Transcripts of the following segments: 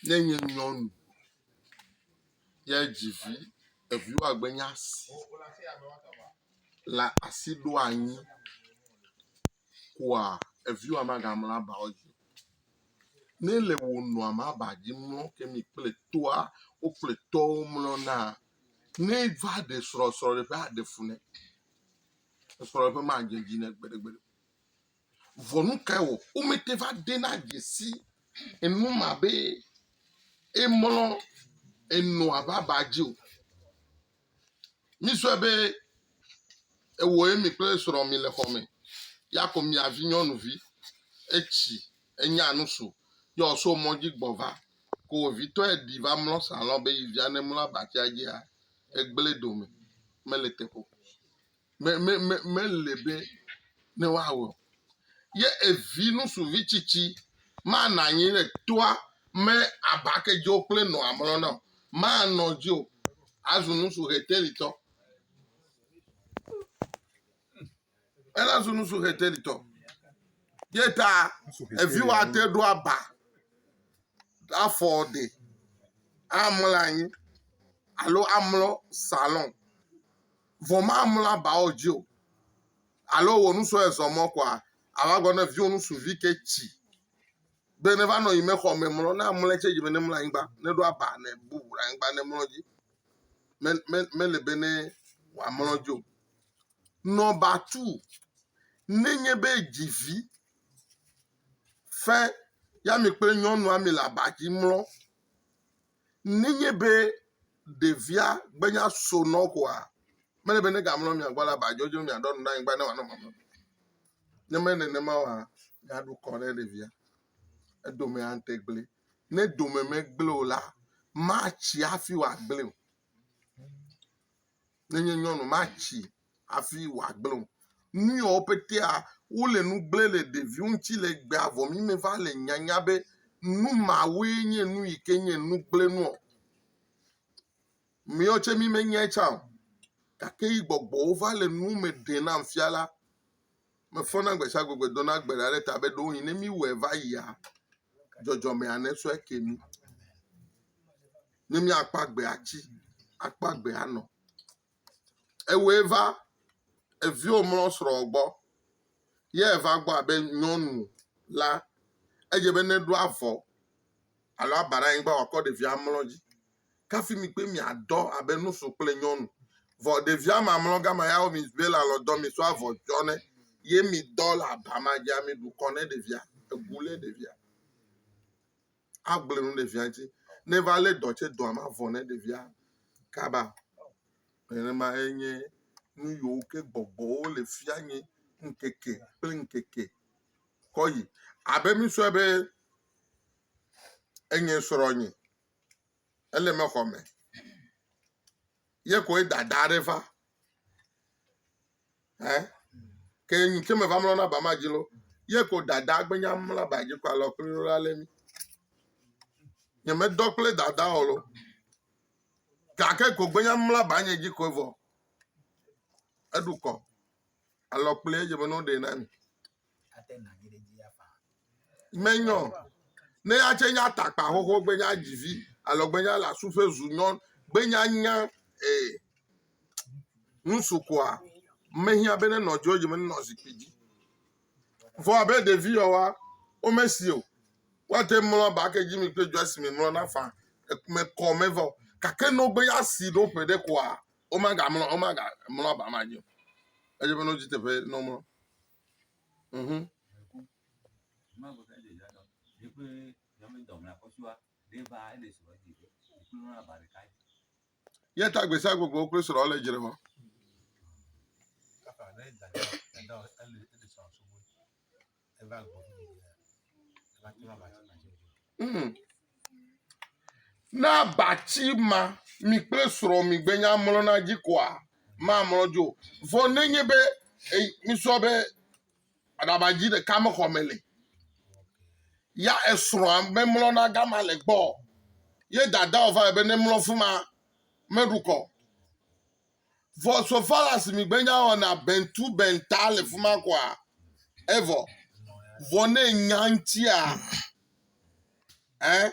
Ne nye nyɔnu ye dzi vi, eviwo agbe nye asi le asi ɖo anyi koa eviwoa maga mlɔ aba wo dzi. Ne le wò nɔa ma ba dzi mlɔ ke mi kple tɔa wo kple tɔwo mlɔ na ne va ɖe srɔ̃ srɔ̃ɖeƒe aɖe fu ne. Srɔ̃ɖeƒe ma dze dzi ne gbeɖegbeɖe. Vɔ nu kae wɔ womete va dena dze si enu ma be emlɔ enɔa ƒe aba dzi o? Mizɔe be ewɔ emi kple srɔ̃ mi le xɔ me ya ko mia vinyɔnuvi etsi enya nu so ye wòso mɔ dzi gbɔ va ko wòvitɔe ɖi va mlɔ salɔn be yi via nemlɔ abatsia dzia, egblẽ dome mele teƒe o. me, me, me, mele be ne woawɔ. Ye evi ŋutsuvi tsitsi manɔ anyi ɖe toa me abake dzewo kple nɔa mlɔ na o. Manɔ dzi o. Azu ŋutsu ʋetelitɔ. Ela zu ŋutsu ʋetelitɔ. Ye ta evi woate ɖo aba afɔ ɖe amlɔ anyi alo amlɔ salon. Vɔ mamlɔ abawo dzi o. Alo wò nusɔ ezɔ mɔ kɔa ava gbɔ ne viwò nusuvi ke tsi be ne va nɔ yi mexɔ me mlɔ ne amlɔ tse dzi be ne mlɔ anyigba ne ɖo aba ne bubu ɖe anyigba ne mlɔ dzi me me mele be ne wòamlɔ dzi o. Nɔba tu nenye be dzi vi fe ya mi kple nyɔnua mi le aba dzi mlɔ. Nenye be ɖevia gbenya so nɔ o koa, mele be nega mlɔ mia gbɔ ale be aba dzodzo mia ɖɔ nu ɖe anyigba ne wòanɔ mama. Ne menye nenema oa, mia ɖu kɔ ne ɖevia. Edome ate gblẽ. Ne dome me gblẽ o la, matsi hafi wòagblẽ o. Nenye nyɔnu matsi hafi wòagblẽ o. Nu yewo petea wole nu gblẽ le ɖeviwo ŋuti le egbea vɔ mi meva le nyanya be nu mawoe nye nu yi ke nye nu gblẽ nua o. Míawo tsɛ mi menyae tsã o gake yi gbɔgbɔwo va le nu me ɖem nam fia la, mefɔ na gbe sia gbe gbe dona gbe ɖa ɖe ta be ɖewohĩ ne míwɔe va yia, dzɔdzɔmea nesɔe ake mí. Ne míakpɔ agbea tsi, akpɔ agbea nɔ. Ewɔe va eviwo mlɔ srɔ̃wò gbɔ ye eva gbɔ abe nyɔnu la, edze be neɖo avɔ alo aba ɖe anyigba wòakɔ ɖevia amlɔ dzi. Kafi mi kple miadɔ abe ŋutsu kple nyɔnu. Vɔ ɖevia ma mlɔ gama ya wo mi be le alɔ dɔ mi so avɔ tsɔ nɛ ye midɔ le aba ma dzia, miɖu kɔ ne ɖevia, egu lé ɖevia. agblẽ nu ɖevia ŋuti ne va lé dɔ tse dɔa mavɔ ne ɖevia kaba nenema enye nu yiwo ke gbɔgbɔwo le fia nye ŋkeke kple ŋkeke kɔ yi abe misɔe be enye srɔ̃nye ele mexɔ me ye koe dada aɖe va ɛ ke nu ke me va mlɔ na ba ma dzi lo ye ko dada gbenya mlɔ ba dzi ko alɔ kple lo ale mi nye me dɔ kple dada o lo gake ko gbenya mlɔ ba nye dzi ko vɔ eɖu kɔ alɔ kple ye me no ɖe na mi Menyɔ ne atse nya takpa xoxo gbe nya dzivi alɔ gbe nya la su ƒe zu nyɔ gbe nya nya ee nusu koa mehiã be nenɔ dzo dzi me nenɔ zikpui dzi vɔ abe ɖevi yewoa wome si o woate mlɔ aba ke dzi mi kple dzo esime mlɔ na fa mekɔ me vɔ gake nɔ gbe ya si ɖo ƒe ɖe koa Womegamlɔ, womegamlɔ aba ma dzi o. Edze ƒã ne wodzi teƒe ne womlɔ. Mhm. Ye ta gbe sia gbe ko wokple srɔ̃a le dzre wɔm. Hmm. Ne abatsi ma mi kple srɔ̃ mi gbenya mlɔna dzi koa, mamlɔ dzo. Vɔ nenye be misɔ be aɖabadzi ɖeka mexɔ me le, ya esrɔ̃a memlɔna gama le gbɔ. Ye dada ɔva be nemlɔ fuma meɖukɔ. Vɔ so fala si mi gbenya wɔ na bentu benta le fuma kɔa evɔ vɔ ne nya ŋtia eh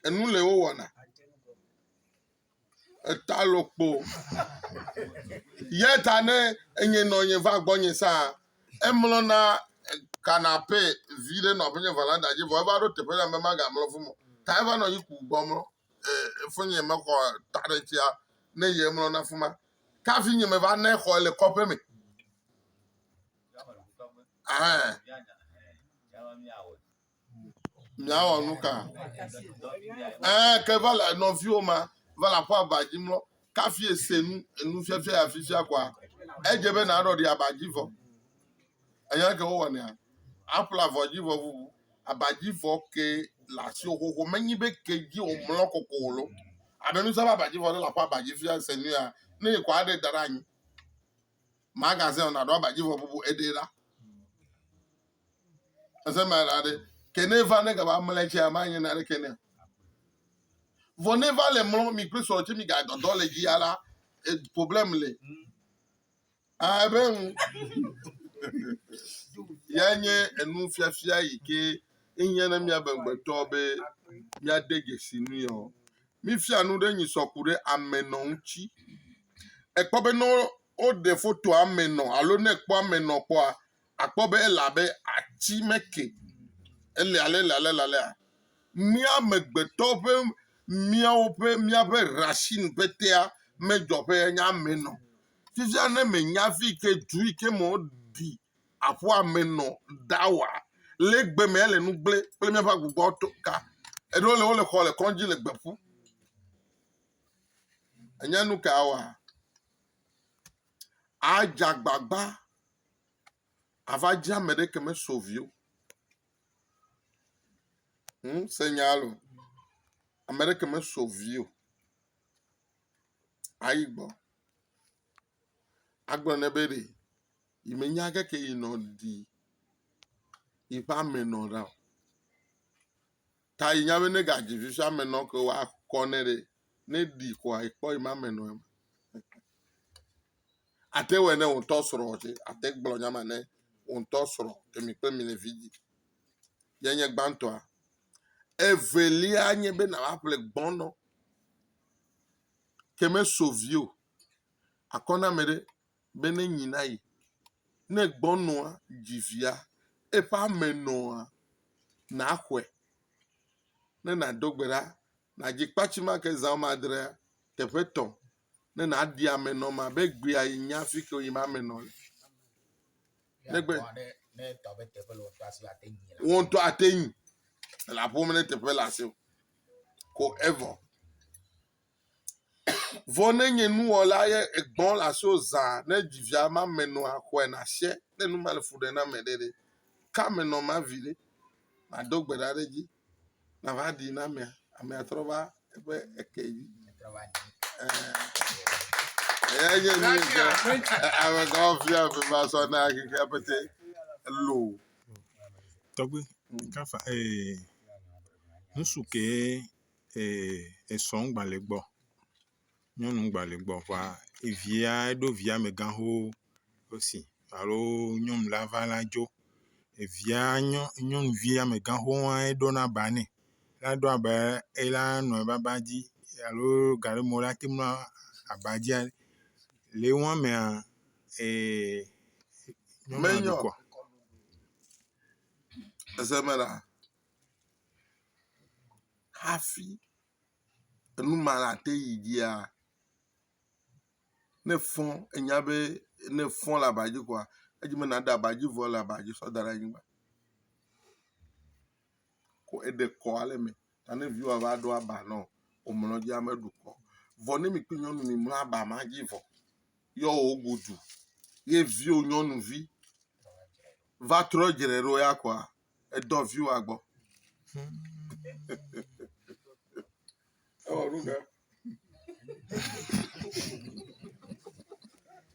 enu le wo wɔna eta lokpo yɛ ta ne enye nɔ nye va gbɔ nye sa emlɔ na kanape vi ɖe nɔ aƒenye vɔ la da dzi vɔ eva ɖo teƒe ɖe ambe ma ga mlɔ fumɔ ta eva nɔ yi ku gbɔ mlɔ Foinye mexɔ ta ɖe tsia ne ye mlɔ na fuma. Ka vinye me va ne xɔ le kɔƒe me. Miawɔ nu ka? Ke va le nɔviwo ma va le aƒe aba dzi mlɔ. Kafi ese nu enu fiafia ya fifia koa edze be naɖɔ ɖi aba dzi vɔ. Enya ke wowɔnea aƒle avɔ dzi vɔ vuvu. abadzivɔ ke le asiwò xoxo menyi be ke dzi wòmlɔ koko o loo alo ne zã be abadzivɔ ɖe le aƒe abadzi fia se nu ya ne yi ko aɖe da ɖe anyi magazine o naɖo abadzivɔ bubu eɖe la ese ma la ɖe ke ne va ne gaba mlɔ tsia manye na ɖe ke ne vɔ ne va le mlɔ mi kple srɔ̃ tse mi ga dɔdɔ le dzi ya la eh, problème le. Abe ŋu. Ya nye enufiafia yi ke ehiã na míabe ŋgbetɔ be míade dzesi nui ɔ. Mifia nu ɖe nyi sɔ ku ɖe ame nɔ ŋuti. Ekpɔ be ne woɖe foto ame nɔ alo ne ekpɔ ame nɔ kpɔa, Akpɔ be ele abe ati me ke. Ele alelalelalea, mía amegbetɔ ƒe míawo ƒe míaƒe racine ƒe tea medzɔ ƒe enye ame nɔ. Fifia ne mènya afi yi ke du yi ke me woɖi aƒua me nɔ da oa, le egbe me ele nu gblẽ kple míaƒe agogɔa to ka. Eɖewo le wole xɔ le kɔdzi le gbe ƒu. Ènya nu ka woa? Adze agbagba ava dzi ame ɖeke me so viwo hum se nya lo ame ɖeke me so viwo ayi gbɔ agblɔ nɛ be ɖe yi me nya ke ke yi nɔ ɖi yi ƒe ame nɔ ɖa o Ta yi nya be ne ga dzi fifia me nɔ ke wa kɔ ne ɖe. Ne ɖi kɔ ayi kpɔ yi ma me nɔ ema. Ate wɔ ne won tɔ srɔ ɔje. Ate gblɔ nya ma ne won tɔ srɔ emi kpe mi le vidi. Ye nye gbantɔa. Evelia nye be na wa ple gbɔnɔ. Ke me so vio. Akɔ na me ɖe. be ne nyi na yi. Ne gbɔnɔa dzi via, eƒe ame nɔa, nàxɔe ne nàdo gbe ɖa. Nàdzi kpatsi ma ke zã woame adrea, teƒe tɔ ne nàɖi ame nɔ ma be egbea yi nya fi ke woyim ame nɔ le. Negbe. Wò ŋutɔ ate nyi. Elaƒom ɖe teƒe le asiwò. Ko evɔ. Vɔ ne nye nuwɔla ye egbɔ le asi wo zã ne dzivia ma me nɔ axɔe na sia ne nu ma le fu ɖe na me ɖe ɖe ka me nɔ ma vi ɖe ma do gbe ɖa ɖe dzi na va ɖi na mea ame atrɔ va eƒe eke dzi eya nye nu yi ke ame gã fia ƒe va sɔ na xexea pete lo. Tɔgbi, kafa ee, nusu ke Ee esɔ ŋgba le gbɔ. Nyɔnu ŋgba le gbɔ ŋua evia eɖo via amegã xoxo wosi alo nyɔnu la va la dzo. Evia nyɔ nyɔnuvi amegã xoxoa eɖo na ba nɛ. Eɖo abe ela nɔ ebe aba dzi alo gaɖeme wo la te ŋu aba dzia le wo amea ee nyɔnua ɖu kɔ. hafi enu ma nate yi dzia, ne efɔ̃ enya be ne efɔ̃ le aba dzi koa, edzi be nàɖe aba dzi vɔ le aba dzi sɔ da ɖe anyigba. Ko eɖe kɔ ale eme ta ne viwòa va ɖo aba nɔ womlɔ dzi ame ɖu kɔ. Vɔ ne mi kple nyɔnu mimlɔ aba ma dzi vɔ yɔ wogodu ye viwò nyɔnuvi va trɔ dzre ɖo ya koa Edɔ viwòa gbɔ.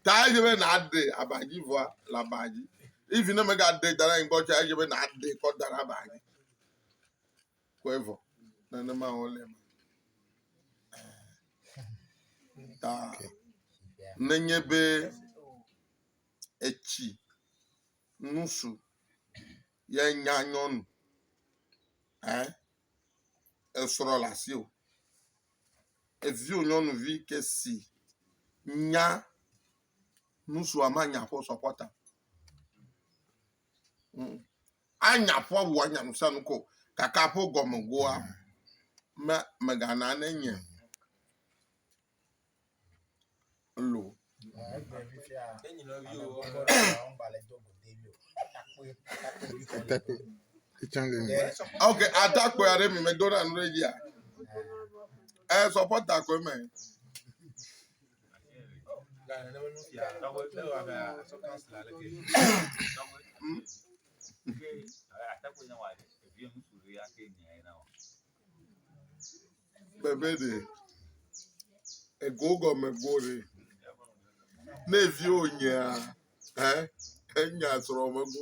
Ta edze be nàɖe aba dzi vɔa le aba dzi. Even ne mègaɖe da ɖe anyi gbɔ tsɛ, edze be nàɖe kɔ da ɖe aba dzi. Kɔe vɔ. Nenema wòle eme. Ta nenye be etsi nusu ye nya nyɔnu ɛ esrɔ le asiwò eviwò nyɔnuvi ke si nya nusua ma nya ƒe sɔpɔta mm. anya ƒe wɔ anya nusa nuko kaka ƒe gɔmegoa me megana ne nye lo. Atakpui. Etsanga ni. Ok, atakpui aɖe mi me dona nu ɖe dzia. Ɛ sɔpɔta koe me. Bebe ɖe ego gɔme go ɖe. Ne viwo nyea, ɛ, enya srɔ̃ me go.